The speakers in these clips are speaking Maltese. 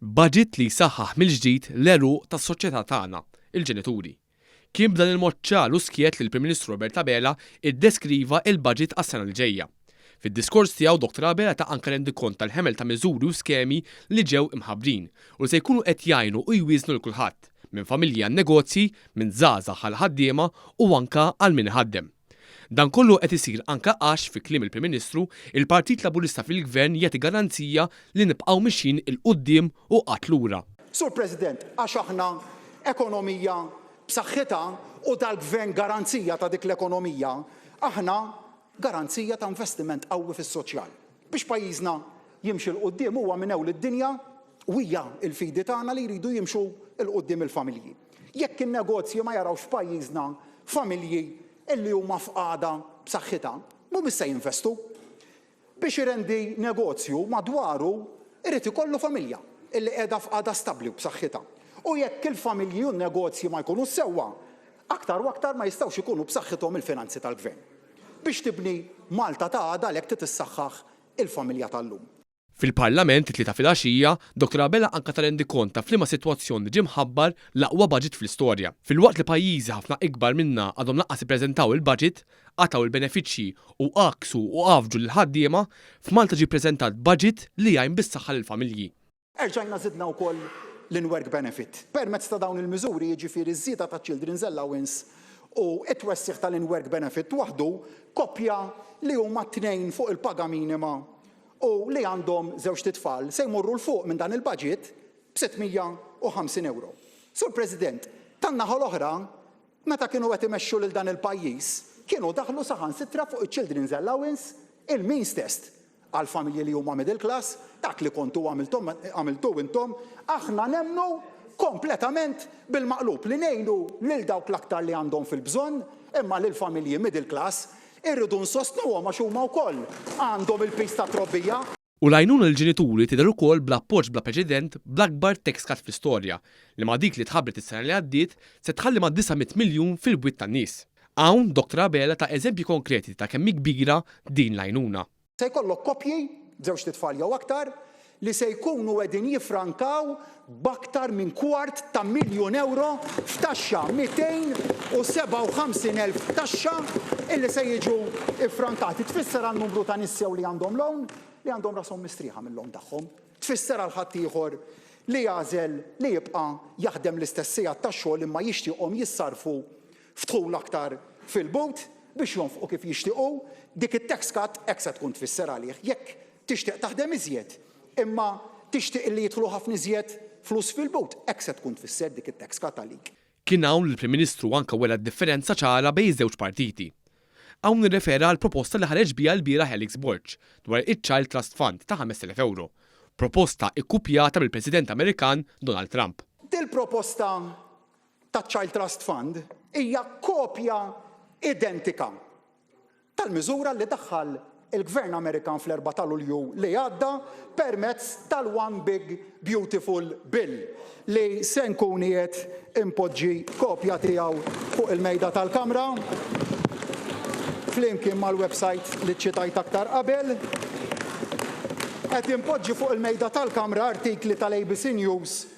Baġit li jsaħħaħ mill-ġdid l-għeruq tas-soċjetà tagħna, il-ġenituri. Kien b'dan il-mod ċar u skjett li l-Prim Ministru Robert Abela ddeskriva l-baġit għas-sena li ġejja. Fid-diskors tiegħu Dottor Abela ta anke rendikont tal-ħemel ta' miżuri u skemi li ġew imħabbrin u li se jkunu qed jgħinu u jwieżnu lil kulħadd, minn familji għan-negozji, minn żgħażagħ għall-ħaddiema u anke għal min iħaddem. Dan kollu qed isir anke għax, fi kliem il-Prim Ministru, il-Partit Laburista fil-Gvern jagħti garanzija li nibqgħu mixjin 'il quddiem u qatt lura. Sur President, għax aħna ekonomija b'saħħitha u dal-Gvern garanzija ta' dik l-ekonomija, aħna garanzija ta' investiment qawwi fis-soċjal. Biex pajjiżna jimxi 'l quddiem huwa minn ewl id-dinja u hija l-fidi tagħna li jridu jimxu 'l quddiem il-familji. Jekk in-negozji ma jarawx f'pajjiżna familji li huma f'qagħda b'saħħitha, mhumiex se jinvestu. Biex irendi negozju madwaru jrid ikollu familja li qiegħda f'qagħda stabbli u b'saħħitha. U jekk il-familji u n-negozji ma jkunux sewwa, aktar u aktar ma jistgħux ikunu b'saħħithom il-finanzi tal-gvern. Biex tibni Malta ta' għada għalhekk trid issaħħaħ il-familja tal-lum. Fil-Parlament, it-Tlieta filgħaxija, Dottor Abela anke ta rendikont ta' f'liema sitwazzjoni ġie mħabbar l-aqwa baġit fl-istorja. Filwaqt li pajjiżi ħafna ikbar minnha għadhom lanqas ippreżentaw il-baġit, qatgħu l-benefiċċji u għakksu u għaffġu lill-ħaddiema, f'Malta ġie ppreżentat baġit li jgħin bis-saħħa lill-familji. Erġajna żidna wkoll l-in-work benefit. Permezz ta' dawn il-miżuri, jiġifieri ż-żieda taċ-children's allowance u t-twessigħ tal-in-work benefit waħdu, koppja li huma tnejn fuq il-paga minima, u li għandhom żewġt itfal se jmorru 'l fuq minn dan il-baġit b'650 ewro. Sur President, tan-naħa l-oħra, meta kienu qed imexxu lil dan il-pajjiż, kienu daħlu saħansitra fuq iċ-children's allowance, il-means test, għall-familji li huma middle class, dak li kontu għamilthom, għamiltu intom, aħna nemmnu kompletament bil-maqlub li ngħinu lil dawk l-aktar li għandhom fil-bżonn, imma lill-familji middle class, Irridu nsostnuhom għax huma wkoll għandhom il-piż tat-trobbija. U l-għajnuna lill-ġenituri tidher ukoll bl-appoġġ bla preċedent bl-akbar tax cut fl-istorja, li ma' dik li tħabbret is-sena li għaddiet, se tħalli ma' 900 miljun fil-bwiet tan-nies. Hawn Dottor Abela ta eżempji konkreti ta' kemm hi kbira din l-għajnuna. Se jkollok koppji, żewġt itfal jew aktar, li se jkunu qegħdin jiffrankaw b'aktar minn kwart ta' miljun ewro f'taxxa, 257 elf taxxa illi se jiġu ffrankati. Tfisser għal numru ta' nies jew li għandhom loan li għandhom rashom mistrieħa mil-loan tagħhom. Tfisser għal ħaddieħor li jagħżel li jibqa' jaħdem l-istess sigħat ta' xogħol imma jixtieqhom jissarrfu f'dħul aktar fil-but biex jonfqu kif jixtiequ, dik it-tax cut hekk se tkun tfisser għalih. Jekk tixtieq taħdem iżjed, imma tixtieq li jidħlu ħafna iżjed flus fil-but, hekk se tkun tfisser dik it-tax cut għalik. Kien hawn li l-Prim Ministru anke wera d-differenza ċara bejn iż-żewġ partiti. Hawn irrefera għall-proposta li ħareġ biha lbieraħ Alex Borg dwar iċ-Child Trust Fund ta' 5,000 ewro, proposta ikkupjata mill-President Amerikan Donald Trump. Dil-proposta taċ-Child Trust Fund hija kopja identika tal-miżura li daħħal il-Gvern Amerikan fl-Erbgħa ta' Lulju li għadda permezz tal-One Big Beautiful Bill li se nkun qiegħed inpoġġi kopja tiegħu fuq il-mejda tal-Kamra flimkien mal-website li ċċitajt aktar qabel. Qed inpoġġi fuq il-mejda tal-Kamra artikli tal-ABC News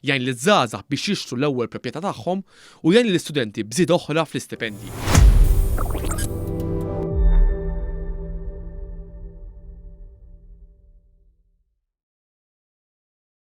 Jgħin liż-żgħażagħ biex jixtru l-ewwel proprjetà tagħhom u jgħin lill-istudenti b'żieda oħra fl-istipendji.